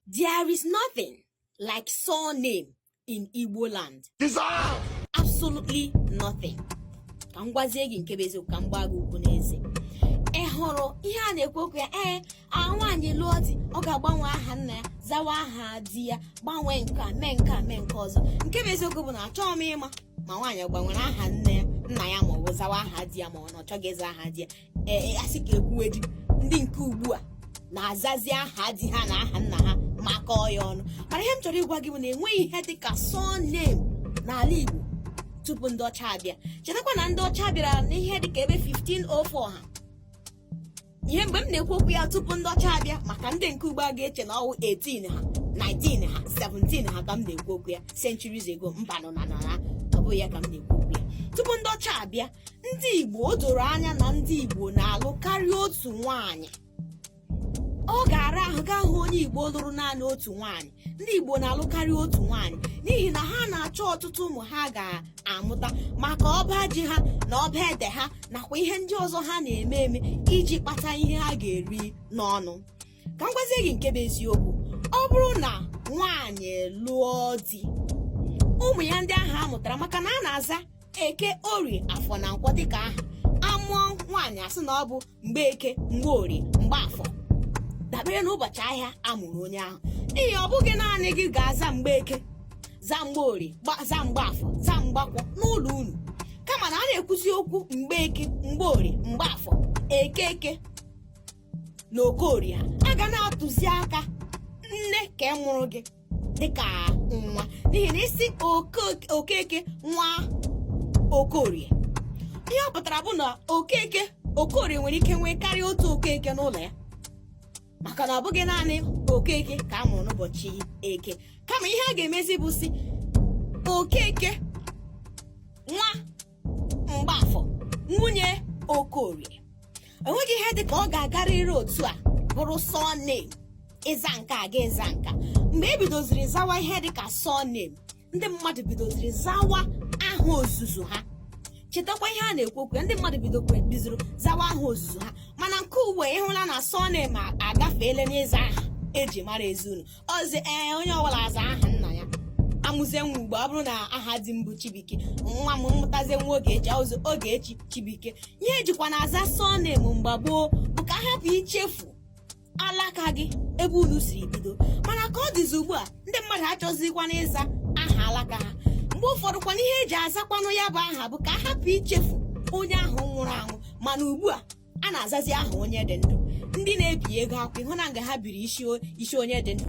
There is nothing like surname in Igbo land. Absolutely nothing. ka m gwazie gị nke bụ eziokwu ka m gbaa gị okwu n'eze ị hụrụ ihe a na-ekwu okwu ya ee nwaanyị lụọ di ọ ga-agbanwe aha nna ya zawa aha di ya gbanwee nke a mee nke a mee nke ọzọ nke bụ eziokwu bụ na achọghị m ịma ma nwaanyị gbanwere aha nne ya nna ya ma ọ bụ zawa aha di ya ma ọ na ọ chọghị ịza aha di ya ee a sị ka e kwuwedi ndị nke ugbu a na-azazi aha di ha na aha nna ha makọọ ya ọnụ mana ihe m chọrọ ịgwa gị bụ na enweghị ihe dị ka surname n'ala Igbo tupu ndị ọcha abịa chetakwa na ndị ọcha bịara n'ihe dị ka ebe 1504 ha ihe mgbe m na-ekwu okwu ya tupu ndị ọcha abịa maka ndị nke ugbo a ga-eche na ọ wụ 18 ha 19 ha 17 ha ka m na-ekwu okwu ya centuries ago mbanụ na na ọ bụghị ya ka m na-ekwu okwu ya tupu ndị ọcha abịa ndị Igbo o doro anya na ndị Igbo na-alụ karịa otu nwaanyị ọ ga-ara ahụ gị ahụ onye Igbo lụrụ naanị otu nwaanyị ndị Igbo na-alụ karịa otu nwaanyị n'ihi na ha na-achọ ọtụtụ ụmụ ha ga-amụta maka ọba ji ha na ọba ede ha nakwa ihe ndị ọzọ ha na-eme eme iji kpata ihe ha ga-eri n'ọnụ ka m gwazie gị nke bụ eziokwu ọ bụrụ na nwaanyị lụọ di ụmụ ya ndị ahụ a mụtara maka na a na-aza eke orie afọ na nkwọ dịka aha a mụọ nwaanyị a sị na ọ bụ Mgbeke Mgborie Mgbafọ dabere n'ụbọchị ahịa a mụrụ onye ahụ n'ihi ọ bụghị naanị gị ga-aza Mgbeke za Mgborie za Mgbafọ za Mgbakwọ n'ụlọ unu kama na a na-ekwuzi okwu Mgbeke Mgborie Mgbafọ Okeke na Okorie a ga na-atụzi aka nne ka mụrụ gị dịka nwa n'ihi na ị sị Oke- Okeke nwa Okorie ihe ọ pụtara bụ na Okeke Okorie nwere ike nwee karịa otu Okeke n'ụlọ ya maka na ọ bụghị naanị Okeke ka a mụrụ n'ụbọchị eke kama ihe a ga-emezi bụ sị Okeke nwa Mgbafọ nwunye Okorie enweghị ihe dị ka ọ ga-agarịrị otu a bụrụ surname ịza nke a ga ịza nka mgbe e bidoziri zawa ihe dị ka surname ndị mmadụ bidoziri zawa aha ozuzu ha chetakwa ihe a na-ekwu okwu ya ndị mmadụ bidokwa bizuru zawa aha ozuzu ha mana nke ugbu a ị hụla na surname agafeela n'ịza aha e ji mara ezi unu ọzi ee onye ọbụla aza aha nna ya a mụzie nwa ugbu a ọ bụrụ na aha di m bụ Chibuike nwa m mụtazie nwa Ogechi ọ zaa Ogechi Chibuike ihe e jikwanụ aza surname mgbe gboo bụ ka a hapụ ichefu alaka gị ebe unu siri bido mana ka ọ dịzi ugbu a ndị mmadụ achọzikwana ịza aha alaka ha mgbe ụfọdụkwana ihe e ji azakwanụ ya bụ aha bụ ka a hapụ ichefu onye ahụ nwụrụ anwụ mana ugbu a a na-azazi aha onye dị ndụ ndị na-ebi ego akwụkwọ ị hụna nga ha biri isi onye dị ndụ